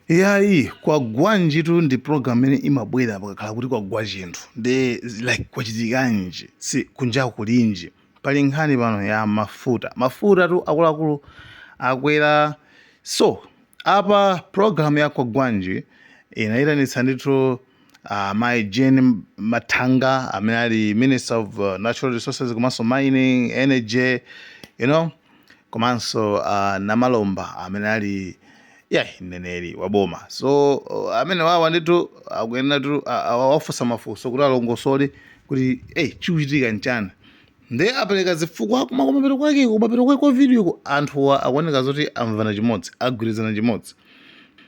Iyayi, kwagwanjitu ndi program imene imabwera pakakhala kuti kwagwa chinthu nde like kwachitikanji si kunjaku kulinji pali nkhani pano ya mafuta mafuta tu akuluakulu akwera so apa program ya kwagwanji inayitanitsa ndithu uh, mayi Jean Mathanga amene ali minister of uh, natural resources komanso mining energy you know komanso a Namalomba amene ali yeah, mneneri wa boma so uh, amene wawa ndithu akuyenera tu a- awafunsa mafunso kuti alongosole kuti eh, chikuchitika nchani nde apereka zifukwa koma kumapeto kwake kumapeto kwake kwa video ku anthuwa akuoneka zoti amvana chimodzi agwirizana chimodzi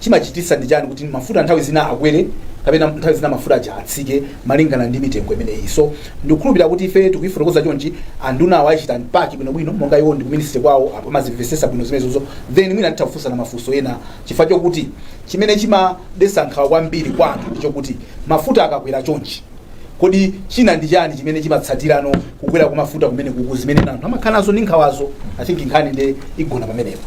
chimachititsa ndi chani kuti mafuta nthawi zina akwere kapena nthawi zina mafuta aja atsike malingana ndi mitengo imeneyi so ndikukhulupirira kuti ife tikuifotokoza chonchi andunawo ayichita unpack bwinobwino monga iwo ndi ku ministry kwawo apa amazimvetsetsa bwino zimenezozo then mwina titha kufunsana mafunso ena chifukwa chokuti chimene chimadetsa nkhawa kwambiri kwa anthu ndi chokuti mafuta akakwera chonchi Kodi china ndi chani chimene chimatsatirano kukwera kwa mafuta kumene kuku zimene anthu amakhala nazo ndi nkhawazo I think nkhani nde igona pamenepo.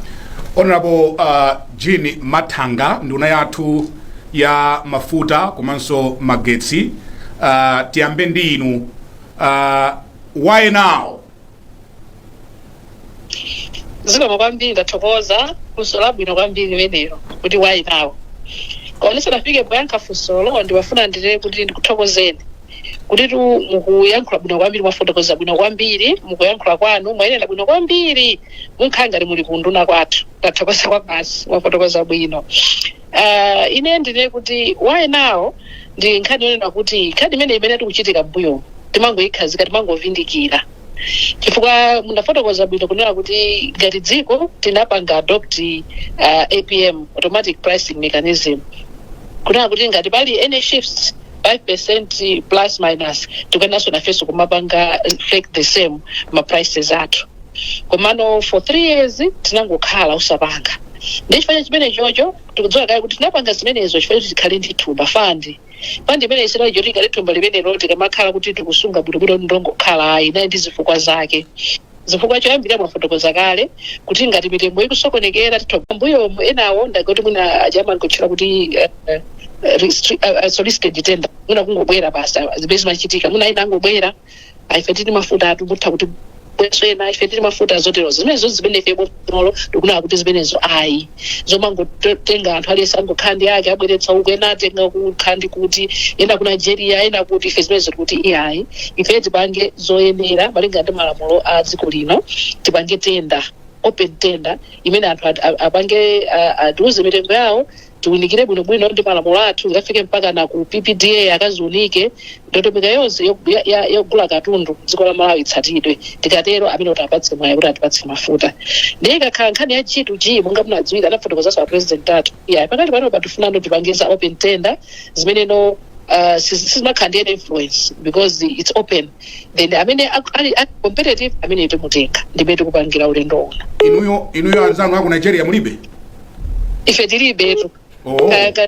Honorable uh, Jean Mathanga nduna yathu ya mafuta komanso magetsi uh, tiyambe ndi inu uh, why now Zikomo kwambiri ndathokoza funso labwino kwambiri limenelo kuti why now koma ndisanafike poyankha funsolo ndimafuna ndinene kuti ndikuthokozeni kutitu mukuyankhula bwino kwambiri mwafotokoza bwino kwambiri mukuyankhula kwanu mwayenda bwino kwambiri munkhala ngati muli ku unduna kwathu ndathokoza kwabasi mwafotokoza bwino Uh, ine ndinene kuti why now ndi nkhani yonena kuti nkhani imene imene yakhala ikuchitika mbuyo timangoyikhazika timangovindikira chifukwa munafotokoza bwino kunena kuti ngati dziko tinapanga adopt uh, apm automatic pricing mechanism kunena kuti ngati pali any shifts 5% plus minus tikuyeneranso nafenso kumapanga reflect the same ma prices athu komano for three years tinangokhala osapanga ndi chifukwa cha chimene chocho tikudziwa kale kuti tinapanga zimenezo chifukwa choti tikhale ndi thumba fund fund imene isinali choti ingokhala thumba limenelo tikamakhala kuti tikusunga bwinobwino kuti ndongokhala ayi inali ndi zifukwa zake chifukwa choyambirira mwafotokoza kale kuti ngati mitengo ikusokonekera titha mbuyomu enawo ndaga kuti mwina aja amankatchula kuti eh, eh, restri- eh, eh, solicited tender mwina kungobwera basi ah, zimene zimachitika mwina ena angobwera ah, ife tili mafuta athu mutha kubweretsa ena ife tili mafuta zoterozo zimenezo zimene ife bomalo tinakana kuti zimenezo ayi zomangotenga anthu aliyense angokhala ndi ake abweretsa uku ena atenga kukhala ndi kuti ena ku nigeria ena kuti ife zimenezo tikuti iyayi ife tipange zoyenera malinga ndi malamulo a dziko lino tipange tenda open tender imene anthu at- a- apange a- atiuze mitengo yawo tiunikire bwinobwino ndi malamulo athu ikafike mpaka na ku ppda akaziunike Ndondomeko yonse yogula katundu mdziko la Malawi itsatidwe, tikatero amene titampatse mwayi kuti atipatse mafuta ndiye ikakhala nkhani ya G to G monga mukudziwira anafotokozaso a President athu iyayi pakali panopa tikufuna no tipange za open tender zimene no sizimakhala ndi any influence because it's open then amene ali competitive amene timutenge ndimmene tikupangira ulendo uno. Inuyo anzanu aku Nigeria mulibe? Ife tilibetu. Oh. Kaya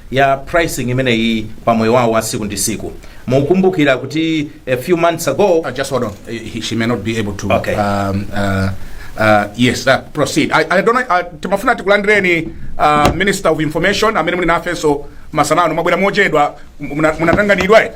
ya pricing imeneyi pa moyo wawo wa tsiku ndi tsiku mukukumbukira kuti a few months ago Uh, just hold on. Uh, he- she may not be able to. Okay. Um, uh, uh, yes, uh, proceed. I, I don't know. Uh, timafuna tikulandireni uh, Minister of Information amene muli nafenso masana ano mwabwera mochedwa muna- munatanganidwa eti?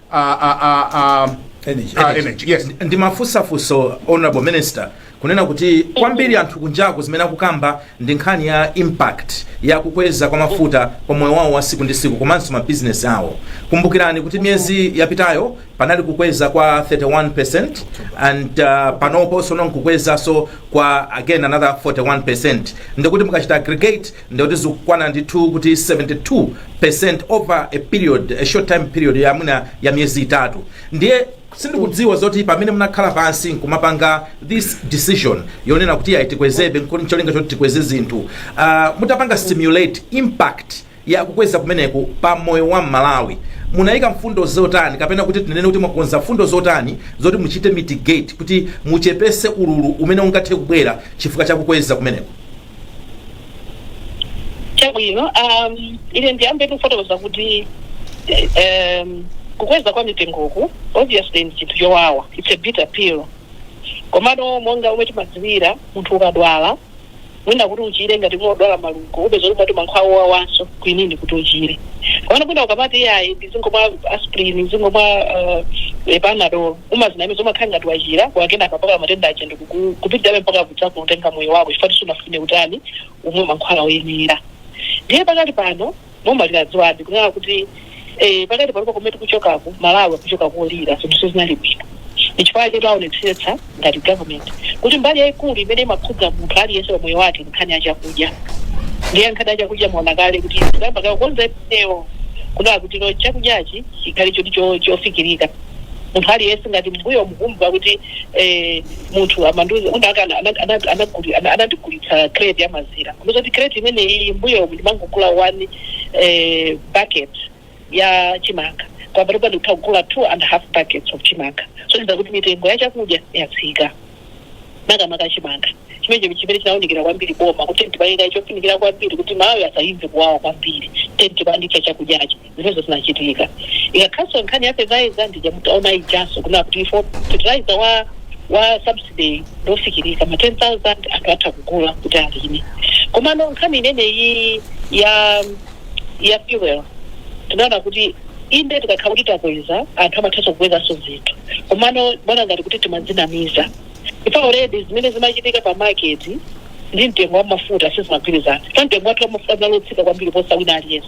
a, a, a, a, Energy. a energy yes ndimafunsa funso honorable minister kunena kuti kwambiri anthu kunjaku zimene akukamba ndi nkhani ya impact ya kukweza kwa mafuta pa moyo wawo wa tsiku ndi tsiku komanso mabizinesi awo kumbukirani kuti miyezi yapitayo panali kukweza kwa 31% and uh, panoponso no kukwezanso kwa again another 41% ndikuti mukachita aggregate ndikuti zikukwana ndithu kuti 72% over a period a short time period ya mwina ya miyezi itatu ndiye sindikudziwa zoti pamene munakhala pansi nkumapanga this decision yonena kuti ayi tikwezebe ndi cholinga choti tikweze zinthu uh, mutapanga simulate impact ya kukweza kumeneku pa moyo wa mmalawi munayika mfundo zotani kapena kuti tinene kuti mwakonza mfundo zotani zoti muchite mitigate kuti muchepese ululu umene ungathe kubwera chifukwa cha kukweza kumeneku chabwino um, ine ndiyambe kufotokoza kuti eh, um, kukweza kwa mitengoku obviously ndi chinthu chowawa it's a bitter pill komano monga momwe timadziwira munthu ukadwala mwina kuti uchire ngati ukudwala malungo upeza kuti mwati mankhwala owawanso kwinini kuti uchire komano mwina ukamati iyayi ndizingomwa aspirin ndizingomwa uh, panadol umazinamiza umakhala ngati wachira koma kenaka mpaka matenda aja ndikupitirabe mpaka kudzakutenga moyo wako chifukwa choti sunafune kutani umwe mankhwala oyenera ndiye pakati pano boma linadziwabe kunena kuti eh, pakati pano pakomwe tikuchokaku malawi akuchoka kolirira zinthu sizinali bwino ndichifukwa chake taonetsetsa ngati government kuti mbali yayikulu imene imakhudza munthu aliyense pa moyo wake nkhani ya chakudya ndiye nkhani ya chakudya mwaona kale kuti tayamba kukonza eyo kunena kuti no chakudyachi chikhale choti cho- chofikirika munthu aliyense ngati mbuyomu kumva kuti eh, munthu amandiuza kuti aka ana- ana- ana- anaguli- ana- anandigulitsa crate ya mazira kuziwa kuti crate imeneyi mbuyo ndimangogula one eh, bucket ya chimanga kwa panopa ndikutha kugula two and a half buckets of chimanga zosonyeza kuti mitengo ya chakudya yatsika makamaka chimanga chimenecho chimene chinaunikira kwambiri boma kuti tipaike chofunikira kwambiri kuti Amalawi asaimve kuwawa kwambiri tenti panali chakudyacho zimenezo zinachitika ikakhalanso nkhani ya fertilizer ndi ija munaona ijanso kunena kuti ife fertilizer wa wa subsidy ngofikirika ma 10000 anthu atha kugula kuti alime komano nkhani imeneyi ya ya fuel tinaona kuti inde tikakhala kuti takweza anthu amathanso kukwezanso zinthu komano poona ngati kuti timadzinamiza ife already zimene zimachitika pa market ndi mtengo wa mafuta sizimagwirizana pa mtengo wathu wa mafuta unali wotsika kwambiri kuposa wina aliyense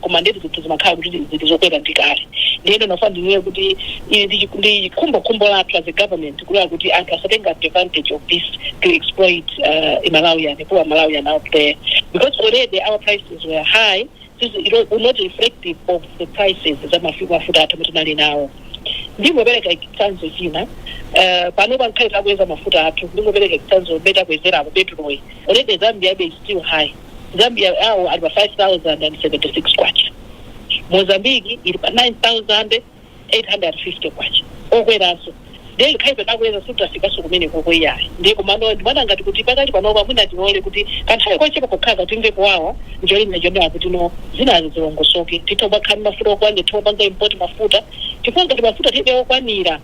koma ndithu zinthu zimakhala kuti zili zokwera ndi kale ndiye ndinafuna ndinene kuti ili ndi chiku- ndi khumbokhumbo lathu as a government kunena kuti anthu asatenge advantage of this to exploit uh, malawian poor malawian out there because already our prices were high this is not- were not reflective of the prices za mafi- mafuta athu amene tinali nawo ndingopereka chitsanzo china eh, pano ngakhale takweza mafuta athu ndingopereka chitsanzobe takwezerapo petuloyi already zambia abe is still high Zambia awo ali pa K5076, Mozambique ili pa K9850, okweranso ndiye ngakhale ife takweza sitinafikenso kumeneko iyayi ndiye komano ndimaona ngati kuti pakali panopa mwina tilole kuti kwa nthawi yochepa yokhayi timve kuwawa ndi cholinga chonena kuti zinazi zilongosoke titha kumakhala ndi mafuta okwanira titha kupanga import mafuta chifukwa ngati mafuta tibe okwanira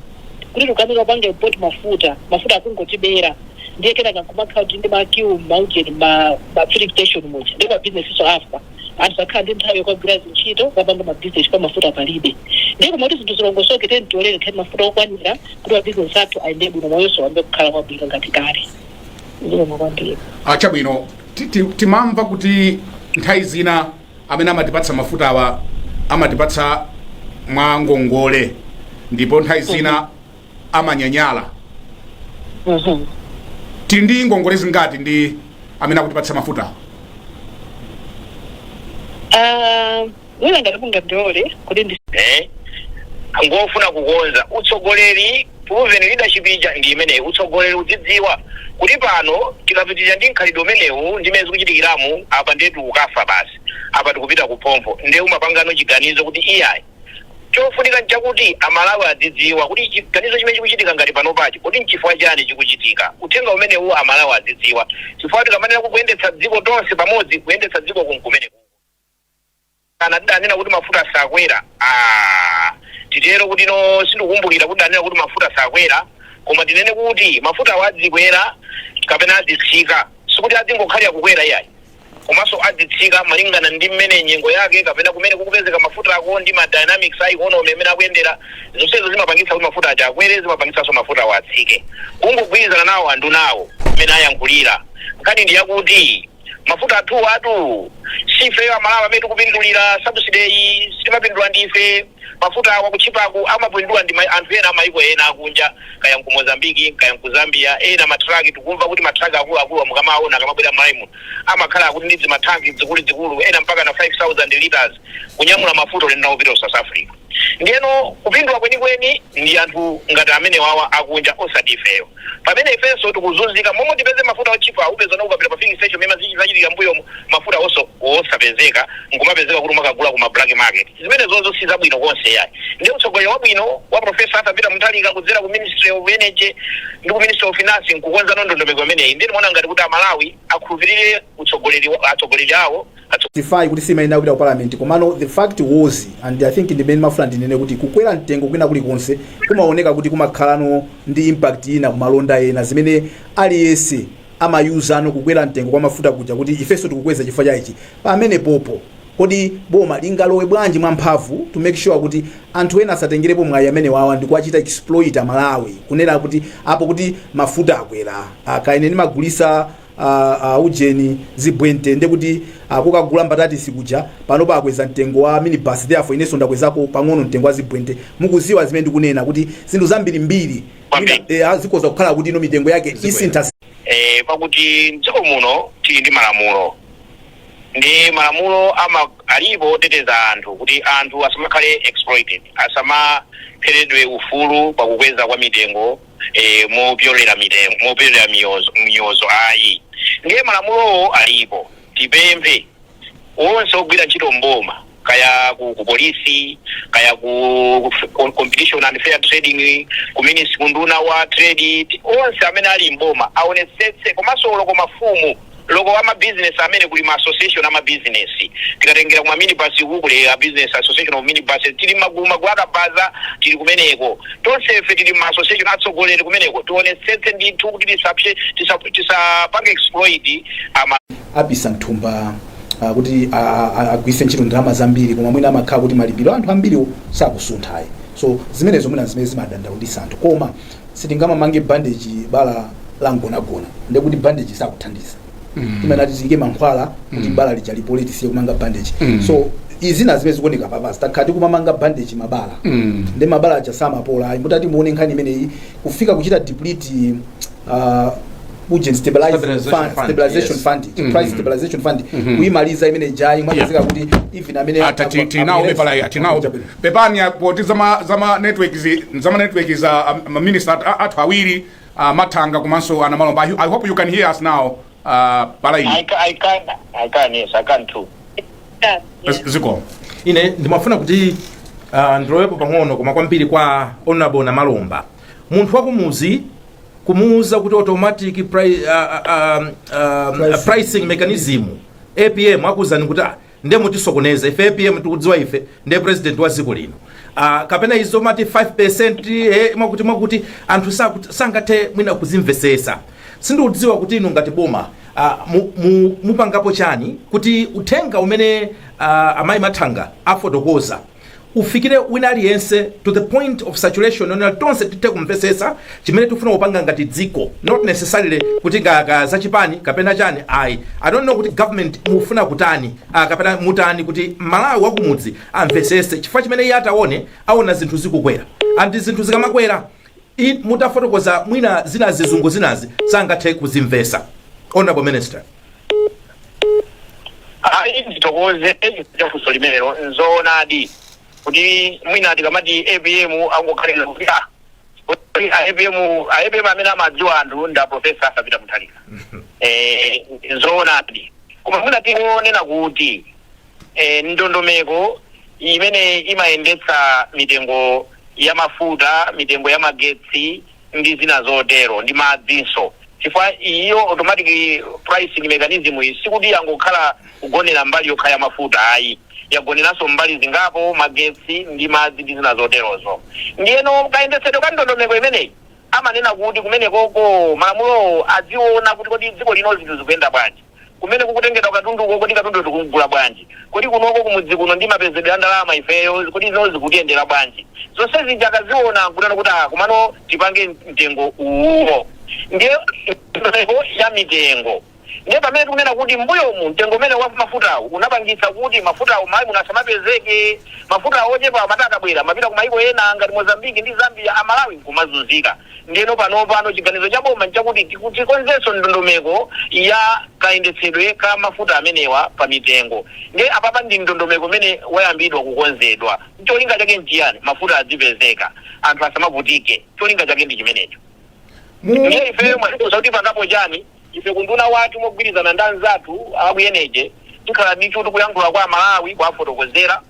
kuti tikamalephera kupanga import mafuta mafuta akungotithera ndiye kenaka nkumakhala kuti ndi makiu mmaujeni ma ma filling station muja ndiye mabizinesinso amafa anthu sakhala ndi nthawi yokagwira zintchito kukapanga mabizinesi chifukwa mafuta palibe ndiye kumati zinthu zilongosoke tiyeni tilolere tikhale ndi mafuta okwanira kuti mabizinesi athu ayende bwino moyonso uyambe kukhala kwabwino ngati kale zikomo kwambiri chabwino ti- ti- timamva kuti nthawi zina amene amatipatsa mafutawa amatipatsa mwa ngongole ndipo nthawi zina amanyanyala tili ndi ngongole zingati ndi amene akutipatsa mafuta Ah, mwina ngati mungandilole kuti ndi eh, ngofuna kukonza utsogoleri proven leadership ija ndi imeneyi utsogoleri udzidziwa kuti pano tikapitiriza ndi mkhalidwe umenewu ndi mmene zikuchitikiramu apa ndithu tikukafa basi apa tikupita kuphompho nde umapanga chiganizo kuti iyayi Chofunika nchakuti Amalawi adzidziwa kuti chiganizo chimene chikuchitika ngati panopachi, kodi nchifukwa chani chikuchitika. Uthenga umenewu Amalawi adzidziwa chifukwa tikamanena kuti kuyendetsa dziko tonse pamodzi, kuyendetsa dziko kunkumeneku. Kana tidanena kuti mafuta sakwera? Aaa! Titero kuti no, sindikukumbukira kuti tidanena kuti mafuta sakwera. Koma tinene kuti mafutawa adzikwera kapena adzitsika, sikuti adzingokhalira kukwera iyayi. komanso adzitsika malingana ndi mmene nyengo yake kapena kumene kukupezeka mafutako ndi ma dynamics a economy mmene akuyendera. Zonsezo zimapangitsa kuti mafuta aja akwere, zimapangitsanso mafutawo atsike. Kungogwirizana nawo andunawo mmene ayankhulira. Nkhani ndi yakuti mafuta athuwatu si ifeyo Amalawi amene tikupindulira, subsidy-yi sitimapindula ndife. Mafuta awa kutchipaku amapindula ndi anthu ena amaiko ena akunja kaya nku Mozambique kaya nku Zambia ena ma truck tikumva kuti ma truck akuluakuluwa mukamawaona akamabwera m'Malawi muno amakhala kuti ndi zima tank zikuluzikulu ena mpakana 5000 litres kunyamula mafuta ulendo nawo kupita ku South Africa ndiyeno kupindula kwenikweni ndi anthu ngati amenewawa akunja osati ifeyo. Pamene ifenso tikuzunzika, momwe tipeze mafuta otchipa upezano ukapita pa filling station mmene zinachitikira mbuyomu mafuta oso osapezeka nkumapezeka kuti umakagula kuma black market zimenezozo sizabwino konse yayi ndiye utsogoleri wabwino wa professor Arthur Peter Mutharika kudzera ku ministry of energy ndi ku ministry of finance nkukonzano ndondomeko imeneyi ndiye timaona ngati kuti amalawi akhulupirire utsogoleri atsogoleri awo atsogoleri. justify kuti simayenera kupita ku parliament komano the fact was and i think ndimene ndimafuna ndinene kuti kukwera mtengo kwina kulikonse kumaoneka kuti kumakhalano ndi impact ina kumalonda ena zimene aliyense amayuzanso kukwera mtengo kwa mafuta kuja kuti ifenso tikukweza chifukwa cha ichi pamene popo kodi boma lingalowe bwanji mwa mphamvu to make sure kuti anthu ena asatengerepo mwayi umenewu ndikuwachita exploit amalawi kunena kuti popeza kuti mafuta akwera kaya ine ndimagulisa a a ujeni zibwente ndekuti kukagula mbatatisi kuja panopa akweza mtengo wa minibus therefore inenso ndakwezako pang'ono mtengo wa zibwente mukuziwa zimene ndikunena kuti zinthu zambirimbiri mwina, eh, zikhoza kukhala kuti ino mitengo yake isintha eh, pakuti mdziko muno tili ndi malamulo ndi malamulo ama alipo oteteza anthu kuti anthu asamakhale exploited asamapheredwe ufulu pakukweza kwa mitengo e, mopyolera mitengo mopyolera miyozo, miyozo ayi ndiye malamulowo alipo tipemphe onse ogwira ntchito mboma kaya ku, ku polisi kaya ku ku- competition and fair trading ku minis kunduna wa trade onse amene ali mboma aonetsetse komanso oloko mafumu Loko wa ma business amene kuli ma association ama business tikatengera kuma minibus ku kuli a association of minibuses tili magulu magulu akabaza tili kumeneko tonsefe tili ma association atsogoleri kumeneko tionetsetse ndithu kuti tisapse tisa tisapange exploit ama apise mthumba ah, kuti a- a- a- agwiritse ntchito ndalama zambiri koma mwina amakhala kuti malipiro a anthu ambiriwo sakusunthayi so zimenezo mwina zimene zimadandaulitsa anthu koma sitingamamange bandeji bala langonagona ndekuti bandeji sakuthandiza Mm. timenati tiike mankhwala kuti bala lija lipole tisiye kumanga bandeji Mm. so izina zimene zikuoneka papasi takhala tikumamanga bandeji mabala Mm. ndi mabala aja samapola ayi mutati muone nkhani imeneyi kufika kuchita deplete uh, uje stabilize Stabilization fund, fund, stabilization yes. fund Mhm. price stabilization fund Mhm. kuyimaliza imene ijayi mwapezeka kuti even amene Ata- ti- tinawo mepala ya- tinawo- pepani ya- poti zama zama network zi- zama network za um, ma minister at- athu awiri uh, mathanga komanso a namalomba I, i hope you can hear us now uh, pala I, ino ca- I can, I can, yes, I can too. Yeah. Z- zikomo ine ndimafuna kuti uh, ndilowepo pang'ono koma kwambiri kwa honorable namalomba munthu wakumuzi kumuuza kuti automatic pri, uh, uh, um, uh, pricing mechanism apm akuuzani kuti ah, nde mutisokoneza ife apm tikudziwa ife ndi president wa dziko lino uh, kapena izo mumati 5% eh, mwakuti mwakuti anthu sakuti- sangathe mwina kuzimvesesa sindikudziwa kuti inu ngati boma uh, mu, mu, mupangapo chani kuti uthenga umene uh, amayi mathanga afotokoza ufikire wina aliyense to the point of saturation where tonse tithe kumvetsetsa chimene tikufuna kupanga ngati dziko not necessarily kuti ka, ka zachipani kapena chani ayi i don't know kuti government mufuna kutani ah, kapena mutani kuti mmalawi wakumudzi amvetsetse chifukwa chimene iye ataone aona zinthu zikukwera and zinthu zikamakwera i- mutafotokoza mwina zina zizungu zinazi sangathe kuzimvesa honorable minister ayi ndithokoze chafunso limenelo nzoonadi kuti mwina tikamati apm angoganizira kuti ah, kuti a apm a apm amene amadziwa anthu ndi aprofesa arthur peter mutharika eh, nzoonadi koma mwina tingonena kuti eh, ndondomeko imene imayendetsa mitengo ya mafuta mitengo ya magetsi ndi zina zotero, ndi madzinso, chifukwa iyo automatic pricing mechanism iyi sikuti yangokhala kugonera mbali yokha ya mafuta ayi, yagoneranso mbali zingapo, magetsi ndi madzi ndi zina zoterozo. Ndiyeno kayendetsedwe ka ndondomeko imeneyi amanena kuti kumenekoko malamulowo adziona kuti kodi dziko lino zinthu zikuyenda bwanji. Kumene kukutengedwa katunduko, kodi katunduyo tikumgula bwanji? Kodi kunoko kumudzi kuno ndi mapezedwe a ndalama ifeyo, kodi izi zikutiyendera bwanji? Zonse zija akaziona nkunena kuti, Aa, komano tipange mtengo uwuwo. Ndiye ndondomeko ya mitengo. Ndiye pamene tikunena kuti m'mbuyomu mtengo umenewu wa mafutawu unapangitsa kuti mafutawo m'Malawi muno asamapezeke. Mafutawo ochepawo amati akabwera amapita kumayiko ena ngati Mozambique ndi Zambia, Amalawi nkumazunzika. Ndiyeno panopano chiganizo cha boma nchakuti tikonzenso ndondomeko ya kayendetsedwe ka mafuta amenewa pa mitengo. Ndiye apapa ndi ndondomeko umene wayambidwa kukonzedwa. Cholinga chake nchiyani? Mafuta adzipezeka, anthu asamavutike. Cholinga chake ndi chimenecho. Ndiye ifeyo mwatifunsa kuti tipangapo chani? Ife ku unduna wathu mogwirizana ndi anzathu a ku Energy tikhala ndithu tikuyankhula kwa Amalawi kuwafotokozera.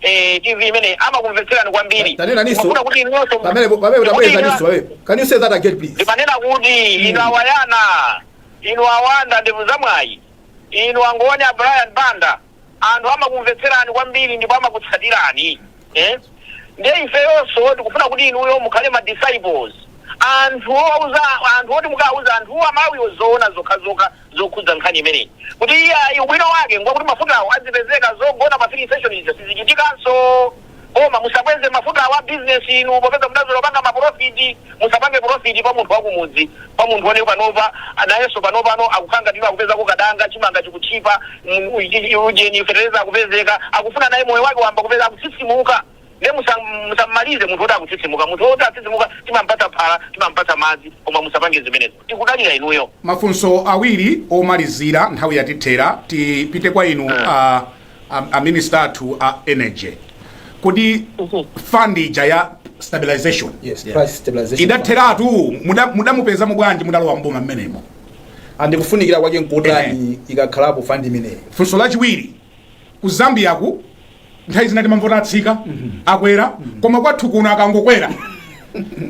eh, TV imeneyi amakumvetserani kwambiri. Ta- tanenaninso. Ndimanena kuti inuyo- Pamene po- pamene kuti tabwerezaninso inu- pamene. Can you say that again please? ndimanena kuti inu awayana inu awanda ndevu zamwayi inu angoni a brian banda anthu amakumvetserani kwambiri ndipo amakutsatirani eh? ndiye ifeyonso tikufuna kuti inuyo mukhale ma disciples anthu ouza anthu oti mukauza anthu amalawiwo zoona zokhazokha zokhudza nkhani imeneyi kuti iyayi ubwino wake ngwakuti mafutawo adzipezeka, zogona pa filling station zija sizichitikanso. Koma musakweze mafutawa a business inu popeza mudazolowera kupanga ma profit. Musapange profit pa munthu wakumudzi, pa munthu ona panopa nayenso panopano akukhala ngati kuti akupezako kadanga, chimanga chikutchipa, ujeni, fetereza akupezeka, akufuna naye moyo wake wayamba kupeza, akutsitsimuka. Nde musa musammalize munthu oti akutsitsimuka. Munthu oti akutsitsimuka timampatsa phala, timampatsa madzi koma musapange zimenezo. Tikudalira inuyo. Mafunso awiri omalizira nthawi yatithera. Tipite kwa inu a, a, a minister athu a energy. Kodi fund ija ya stabilization Yes, Yeah. price stabilization. fund. idatheratu muda- mudamupezamo bwanji mudalowa mboma mmenemo? And kufunikira kwake nkutani ikakhalapo fund imeneyi. Funso lachiwiri Ku Zambiaku nthawi zina timamva kuti atsika, akwera, koma kwathu kuno akangokwera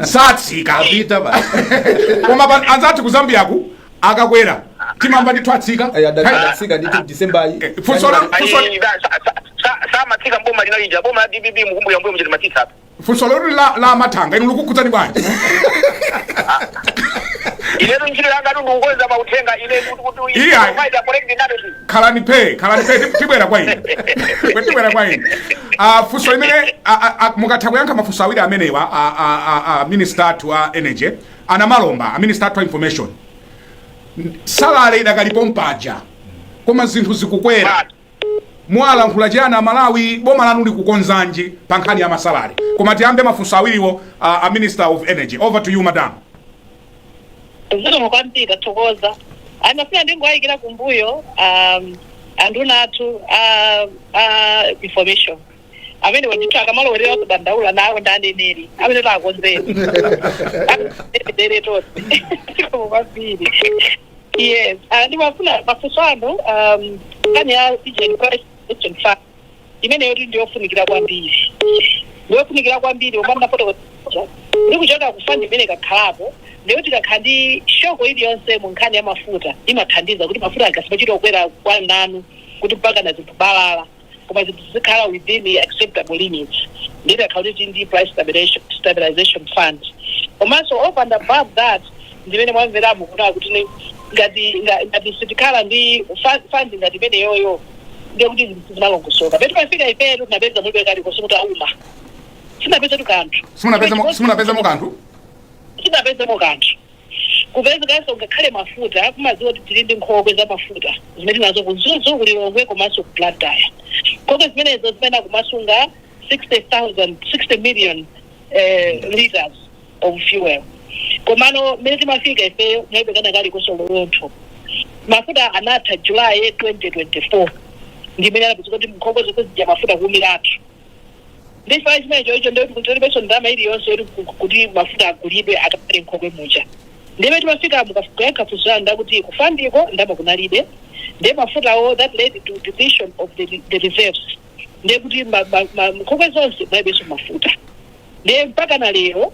satsika. Apita basi. Koma pa- anzathu ku Zambiaku akakwera timamva ndithu atsika. Ayi, adati Nthawi- adatsika ndithu December yi. Eh, funso la- Ayi, Kusoni. da- sa- sa- sa- samatsika mboma linalija boma la dpp mukumbuka mbuyo mcheti timatsitsa apa funso loti la, la amathanga inu likukhudzani bwanji inetu ntchito yanga ndikukonza mauthenga ine kuti Iya. kumaita kolekti nato khalani phe khalani phe ti- tibwera kwa inu Kwe tibwera kwa inu Ah, funso limene ah, ah, ah, mukatha kuyankha mafunso awiri amenewa ah, ah, ah, ah, minister athu a energy anamalomba a minister athu a information sadale idakalipo mpaja koma zinthu zikukwera Basi. Mwalankhula chiyani a Malawi? Boma lanu likukonzanji pa nkhani ya ma salary? Koma tiyambe mafunso awiriwo a, a Minister of Energy. Over to you madam. zikomo kwambiri tathokoza anafuna ndingowayikira kumbuyo um, anduna athu a a information amene wandithu akamalowerera zodandaula nawo ndi aneneri amene takonzera dere tonse zikomo kwambiri Yes, ah, ndimafuna mafunso anu um, nkhani ya price stabilization fund imeneyo kuti ndiyofunikira kwambiri ndiyofunikira kwambiri omwe mwafotokoza ndikuchoka ku fund imene ikakhalapo ndiyoti kukakhala ndi shock iliyonse mu nkhani ya mafuta imathandiza kuti mafuta asamachite kukwera kwamnanu kuti mpakana zinthu balala koma zinthu zizikhala within the acceptable limits ndiye titakhala kuti tili ndi price stabilization, stabilization fund komanso over and above that ndimene mwamveramo kunena kuti ni- ngati nga- ngati sitikhala ndi fa- fund ngati imeneyoyo ndiye kuti zinthu sizimalongosoka pamene timafika ifetu tinapeza mulibe kalikonse kuti gwa kouma sitinapezetu kanthu simunapezemo simunapezemo kanthu sitinapezemo kanthu Kupezekanso ngakhale mafuta mumadziwa kuti tili ndi nkhokwe za mafuta zimene tili nazo ku Mzuzu, ku Lilongwe komanso ku Blantyre. Nkhokwe zimenezo zimayenera kumasunga 60,000, 60 million eh, litres of fuel. Komano mmene timafika ifeyo kunalibe kena kalikonse olo dontho. Mafuta anatha July 2024 ndi mmene anapezeka kuti nkhokwe zonse zija mafuta kuumilatu. ndi chifukwa chimenecho icho ndiye kuti kunalibeso ndama ili yonse yoti ku- kuti mafuta agulidwe akakhale nkhokwe muja ndiye mmene timafika ndikayankha funso yanu ndi kuti ku fund-ko ndama kunalibe ndiye mafutawo that led to depletion of the, the reserves ndiye kuti ma- ma- ma- nkhokwe zonse munalibeso mafuta ndiye mpakana lero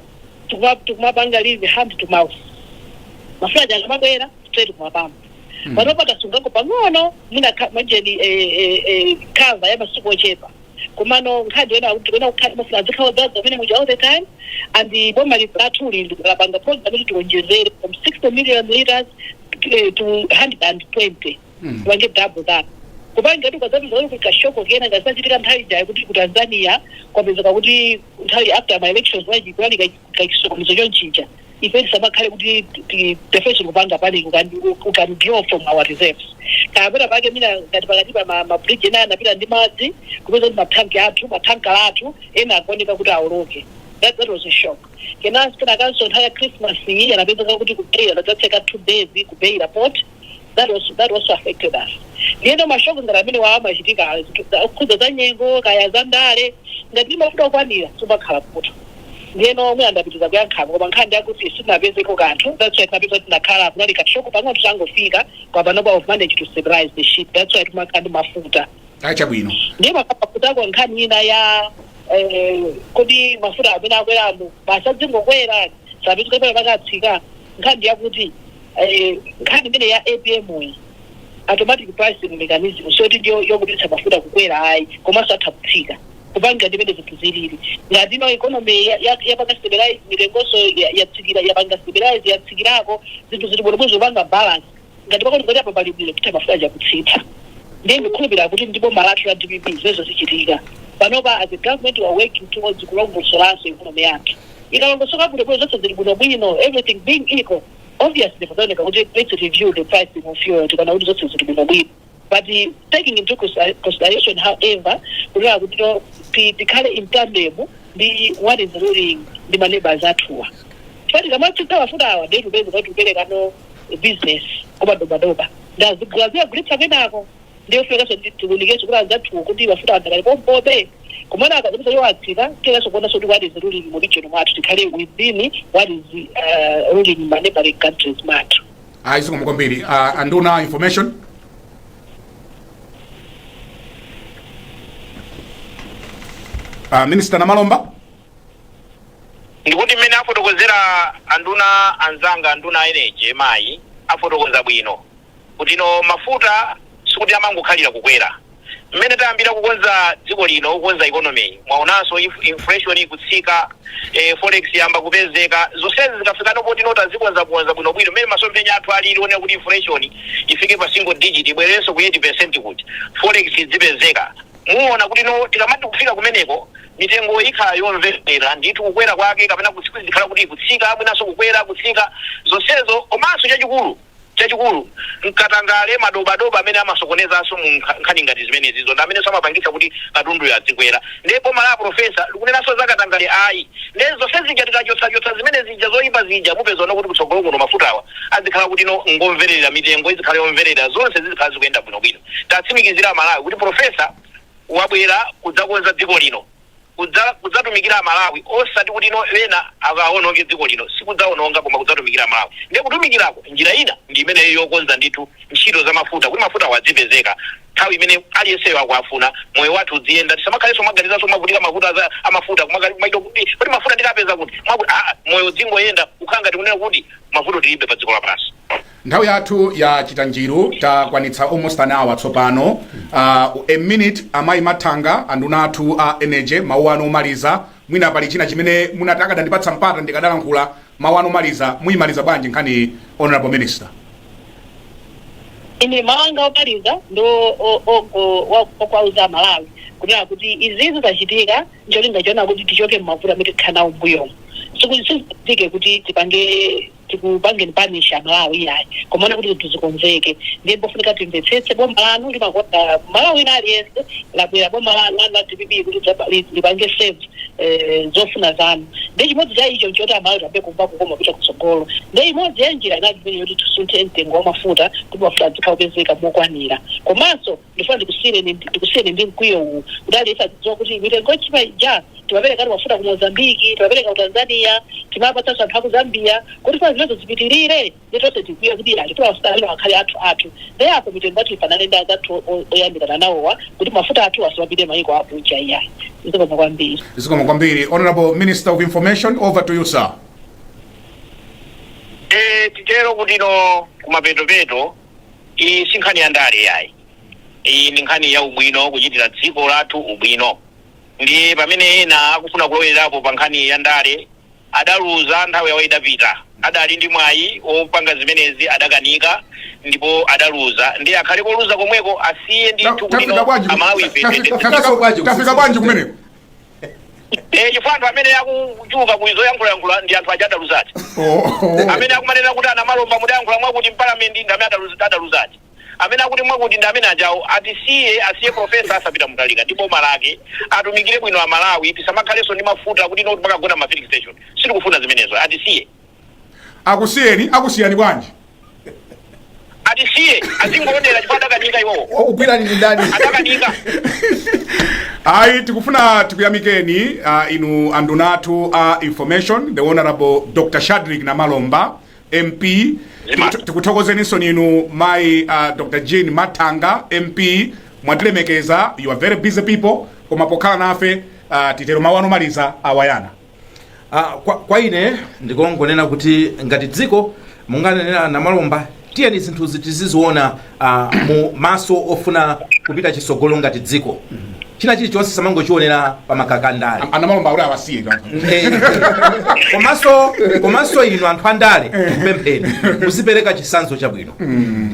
tikuma- tikumapanga live hand to mouth mafuta aja akamabwera straight kumapampu Mm. panopa tasungako pang'ono mwina kha- mwajeni eh, eh, eh, cover ya masiku ochepa komano nkhani yake tikufuna kukhale mafuta azikhala odzaza mmene muja all the time and boma li- lathu lili lapanga program kuti tiwonjezere from 60 million liters eh, to 120 Mm. tipange double that kupangira kuti ukazapeza kuti kashoko kena kakazachitika nthawi jayo kuti ku tanzania kwapezeka kuti nthawi after ma elections wachikulali ka chisokonezo chonchija ife tisamakhale kuti ti- ifenso tikupanga panic we can we- we can draw from our reserves kapena pakadali pano ngati pakati pa ma- mabridge ena anapita ndi madzi kupeza kuti mathanki athu mathankala athu ena akukanika kuti aoloke that, that was a shock kenanso kenakanso nthawi ya christmas iyi anapezeka kuti ku Beira anadzatseka two days ku Beira port that also, that also affected us ndiyeno mashock ngati amenewa amachitika zinthu za- okhudza za nyengo kaya za ndale ngati mafuta okwanira sumakhala nawo ndiyeno nanenso ndinapita kuyang'anako koma nkhani ndiyakuti sitinapezeko kanthu that's why tinapeza kuti tinakhala kunali ka shock pang'ono tangofika koma panopa we've managed to stabilize the ship that's why timakhala ndi mafuta chabwino ndiye makapakutako nkhani ina ya eh, kodi mafuta amene akweramu basi adzingokwera sapezeka pena akatsika nkhani yakuti Nkhani imeneyi ya apm yi, automatic pricing mechanism, siyoti ndi yongopititsa mafuta kukwera ayi, komanso atha kutsika kutengera ndi mmene zinthu zilili. Ngati ino economy yapanga stabilize, mitengonso yatsikira, yapanga stabilize, yatsikirako, zinthu zili bwinobwino zikupanga balance, ngati kuti poti apa pali bwino, titha mafuta aja kutsitsa. Ndiye ndikukhulupirira kuti ndi boma lathu la dpp zimenezo zichitika. Panopa as a government we are working towards kulongosolanso economy yathu. Ikalongosoka bwinobwino, zonse zili bwinobwino, everything being equal, Obviously pazaoneka kuti let's review the pricing of fuel tikaona kuti zonse zili bwino bwino but uh, taking into consi- consideration however kunena kuti no ti- tikhale in tandem ndi what is ruling ndi ma neighbors athuwa poti tikamatsitsa mafutawa ndiye tipeza kuti tiperekano business kwa madobadoba azigula azikagulitsa kwinako ndiye pofunikaso kuti tiunikenso kuti anzathuwo kuti mafuta adakali pompobe koma akazapeza iwo atsika tiyeneranso kuonaso kuti what is ruling mu region mwathu tikhale within what is uh, ruling ma neighboring countries mwathu ayi zikomo kwambiri Ah, anduna a information Ah, minister namalomba ndikuti mmene afotokozera anduna anzanga anduna a energy mayi afotokoza bwino kuti no mafuta sikuti amangokhalira kukwera. Mmene tayambira kukonza dziko lino, kukonza economy, mwaonanso inf inflation ikutsika, eh, forex yayamba kupezeka. Zonsezi zikafikano poti no tazikonzakonza bwinobwino, mmene masomphenya athu alili onena kuti inflation ifike pa single digit, ibwererenso ku 8% kuja, forex idzipezeka. Muona kuti no tikamati kufika kumeneko, mitengo ikhala yomvera ndithu kukwera kwake kapena kutsik izikhala kuti ikutsika, mwinanso kukwera, kutsika, zonsezo. Komanso chachikulu. Chachikulu, n'katangale, madobadoba amene amasokonezanso mu nkha, nkhani ngati zimenezizo ndi amenenso amapangitsa kuti katunduyo adzikwera. Ndiye boma la a Professor likunenanso za katangale ayi. Ndiye zonse zija tikachotsachotsa zimene zija zoipa zija mupezano kuti kutsogolo kuno mafutawa adzikhala kuti no n'ngomverera, mitengo idzikhala yomverera, zonse zizikhala zikuyenda bwinobwino. Tatsimikizira Amalawi kuti Professor wabwera kudzakonza dziko lino. kudza kudzatumikira amalawi osati kuti no ena akaononge dziko lino sikudzaononga koma kudzatumikira amalawi nde kutumikirako njira ina ndi imeneyo yokonza ndithu ntchito za mafuta kuti mafutawo adzipezeka nthawi imene aliyenseyo akuafuna moyo wathu udziyenda tisamakhalenso kumaganizanso kumavutika mavuto a za mafuta kumaka kumati no kuti kodi mafuta ndikapeza kuti mwakuti aa moyo udzingoyenda kukhala ngati kunena kuti mavuto tilibe pa dziko lapansi. Nthawi yathu yachita njiru takwanitsa almost an hour tsopano. Uh, a minute amayi Mathanga anduna athu a energy mawu anu omaliza mwina pali china chimene munati akadandipatsa mpata ndikadalankhula mawu anu omaliza muyimaliza bwanji nkhani iyi, honorable minister. ine mawu anga omaliza ndo o- ogo wa- okwauza amalawi kunena kuti izizi zachitika ncholinga choona kuti tichoke mmavuto amene tikhala nawo mbuyomu sikuchitika kuti tipange tikupangeni punish amalawi iyayi koma kuona kuti zinthu zikonzeke ndiye mpofunika timvetsetse boma lanu limakonda mmalawi wina aliyense labwera boma lanu lanu la dpp kuti dzaba- li- lipange serve eh, zofuna zanu ndiye chimodzi cha icho nchoti amalawi tiambe kumva kukoma kupita kutsogolo ndiye imodzi ya njira inali imene yoti tisunthe mtengo wa mafuta kuti mafuta adzikhala opezeka mokwanira komanso Ndifuna ndikusiyireni ndikusiyeni ndi mkwiyo uwu kuti aliyense adzidziwa kuti mitengo yotchipa ija timaperekadi mafuta ku Mozambique timapereka ku Tanzania timapatsanso anthu aku Zambia kodi tifuna zimenezo zipitilire nde tonse tikwiye kuti yayi tifuna mafuta amenewa akhale athu athu nde apo mitengo yathu ifanane ndi azathu o- oyandikana nawowa kuti mafuta athu asamapite mayiko akunja iyayi zikomo kwambiri zikomo kwambiri honorable minister of information over to you sir Eh, titero kuti kuno kumapeto peto Iyi si nkhani ya ndale yayi. Iyi ndi nkhani ya ubwino, kuchitira dziko lathu ubwino. Ndiye pamene ena akufuna kulowererapo pa nkhani ya ndale, adaluza, nthawi yawo idapita. Adali ndi mwayi wopanga zimenezi adakanika ndipo adaluza. Ndiye akhale koluza komweko, asiye Ta- ndithu tafika kubwino. bwanji ku- Amalawife tafika- tafika- tafika bwanji kumeneko Eh, chifukwa anthu amene akutchuka ku izo yankhulayankhula ndi anthu aja adaluza aja amene akumanena kuti anamalomba mudayankhula mwakuti mpalamenti ndi amene adaluza- adaluza aja amene akuti mwakuti ndi amene ajawo atisiye asiye profesa arthur peter mutharika ndi boma lake atumikire bwino amalawi tisamakhalenso ndi mafuta kuti noti mpaka kugona ma filling station sitikufuna zimenezo atisiye akusiyeni akusiyani bwanji atisiye azingoonera chifukwa adakanika iwowo wakugwirani ndi ndani adakanika ayi tikufuna tikuyamikeni uh, inu anduna athu a information the honorable dr shadric namalomba mp Zima. Tiku- tikuthokozeninso inu mayi uh, dr jean mathanga mp mwatilemekeza you are very busy people koma pokhala nafe uh, titero mawu anu omaliza awayana Ah, kwa, kwa ine ndikongonena kuti ngati dziko monga anenera anamalomba tiyeni zinthuzi tiziziona ah, mu maso ofuna kupita chisogolo ngati dziko china chilichonse tisamangochionera pa makaka andale anamalomba kuti awasiye kaka Eh, komanso komanso inu anthu andale nkupempheni muzipereka chisanzo chabwino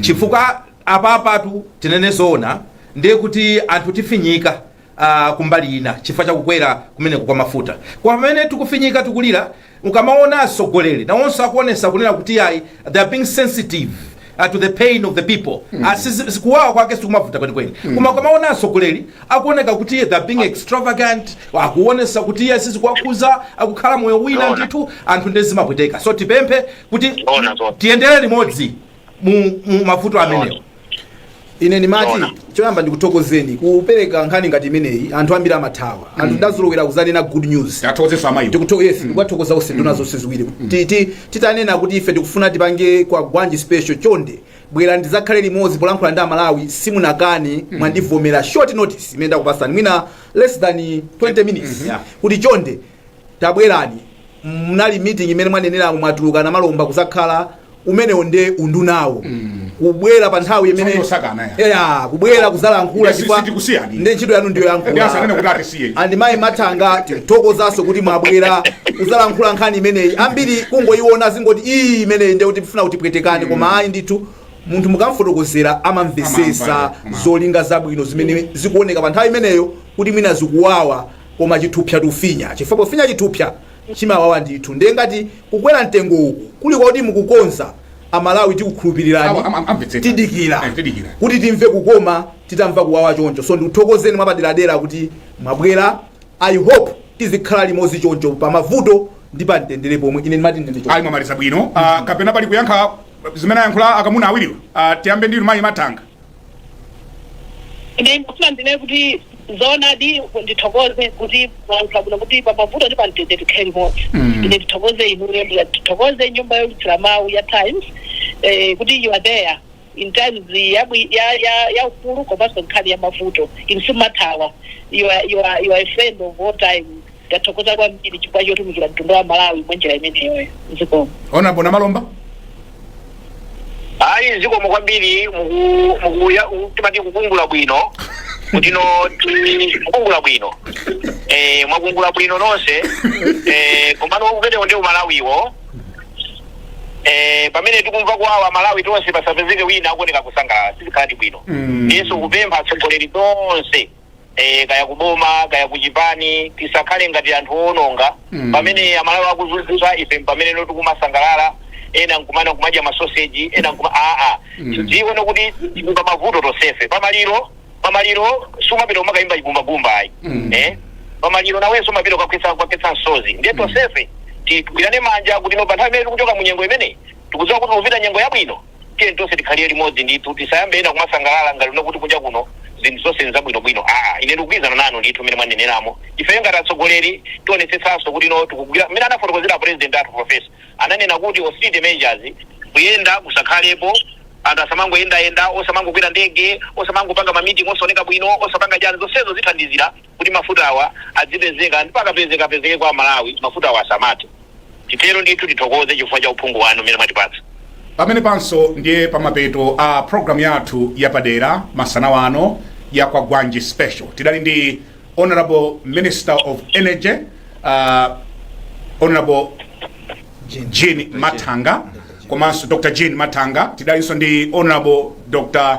chifukwa apapatu tinene zoona ndiye kuti anthu tifinyika Ah, kumbali ina chifukwa cha kukwera kumeneko kwa mafuta kwamene tikufinyika tikulira ukamaona atsogoleri nawonso akuonesa kunena kuti ayi they are being sensitive uh, to the pain of the people mm. uh, kuwawa kwake sikumavuta kwenikweni mm. koma ukamaona atsogoleri akuoneka kuti they are being extravagant akuonesa kuti izi sizikuwakhuza akukhala moyo wina Zoona. ndithu anthu nde zimapweteka so tipemphe kuti Zoona, zoona. tiyendere limodzi mu, mu mavuto amenewo ine ndimati Zoona. choyamba ndikuthokozeni kupereka nkhani ngati imeneyi anthu ambiri amathawa anthu tidazolowera kuzanena good news athokozeso amayi ndikuthoka yes ndikuwathokoza onse nduna zonse ziwiri Ti- ti- titanena kuti ife tikufuna tipange kwagwanji special chonde bwera ndizakhale limodzi polankhula ndi amalawi simunakane mwandivomera short notice imene ndakupasani mwina less than 20 minutes Yeah. kuti chonde tabwerani mnali meeting imene mwaneneramo mwatuluka a Namalomba kuzakhala umenewo nde undunawo kubwera pa nthawi imene Nthawi yosakana ya. Yeah, kubwera kuzalankhula Yes, chifukwa sitikusiyani. nde ntchito yanu ndiyo Ndi asanene kuti atisiye. yankhula and mayi Matanga tithokozanso kuti mwabwera kuzalankhula nkhani imeneyi ambiri kungoyiona zingoti iyi imeneyi nde kuti tifuna kutipweteka koma ayi ndithu munthu mukamfotokozera amamvesesa Amamva, amamva. zolinga zabwino zimene zikuoneka pa nthawi imeneyo kuti mwina zikuwawa koma chithupsa tikufinya chifukwa pofinya chithupsa chimawawa ndithu nde ngati kukwera mtengo uku kuli kwakuti mukukonza amalawi tikukhulupirirani tidikira kuti timve kukoma titamva kuwawa choncho so ndikuthokozeni mwapaderadera kuti mwabwera i hope tizikhala limozi choncho pa mavuto ndi pa mtendere pomwe ine ndimati ndende choncho. ayi mwamaliza bwino Ah, kapena pali kuyankha zimene ayankhula akamuna awiriwa Ah, tiyambe ndinu mayi Matanga ine ndikufuna ndinene kuti zoonadi ndithokoze kuti mwalankhula bwino kuti pamavuto ndi pamtendere tikhale limodzi Mm. ine ndithokoze inuyo ndithokoze nyumba youlutsira mawu ya Times eh, kuti you are there in times yabwi- ya ya ya ufulu komanso nkhani ya mavuto inu simathawa you are, you are, you are a friend of all time Tathokoza kwambiri chifukwa chotumikira mtundu wa Malawi mwa njira imeneyoyo. Zikomo. Honourable Namalomba ayi zikomo kwambiri muku- mukuya- u- timati kukungula bwino kuti no ti- kukungula bwino eh, mwakungula bwino nonse eh, komano umenewo ndi umalawiwo eh, pamene tikumva kuwawa amalawi tonse pasapezeke wina akuoneka kusangalala sizikhaladi bwino Mm. ndiyetu kupempha atsogoleri tonse eh, kaya kuboma kaya kuchipani tisakhale ngati anthu owononga Mm. pamene amalawi akuzunzika ife mpameneno tikumasangalala ena nkumana nkumadya masoseji ena nkuma aa Mm. tidzione kuti tikumva mavuto tosefe pamaliro pamaliro sumapita kumakayimba chigumbagumba ayi Mm. eh? pamaliro nawenso umapita kukakhetsa kukakhetsa msozi ndiye tosefe tigwirane manja kuti no pa nthawi imene tikuchoka mu nyengo imeneyi tikudziwa kuti tikupita nyengo yabwino Tiyeni tonse tikhalire limodzi ndithu, tisayambe ena kumasangalala ngati kuti kunja kuno zinthu zonse nzabwinobwino aa, ine ndikugwirizana nanu ndithu mmene mwaneneramo. Ifeyo ngati atsogoleri tionetsetsenso kuti no tikugwira mmene anafotokozera a President athu Professor. Ananena kuti austerity measures, kuyenda kusakhalepo, anthu asamangoyendayenda, osamangokwera ndege, osamangopanga ma meeting osaoneka bwino, osapanga chani, zonsezo zithandizira. kuti mafuta awa adzipezeka ndipo akapezeka apezeke kwa amalawi mafutawa asamathe. Titero ndithu tithokoze chifukwa cha uphungu wanu umene mwatipatsa. Pamenepanso ndiye pamapeto a program yathu yapadera masana wano ya Kwagwanji Special. Tidali ndi Honorable Minister of Energy uh, Honorable Jean Mathanga komanso Dr. Jean Mathanga tidalinso ndi Honorable Dr.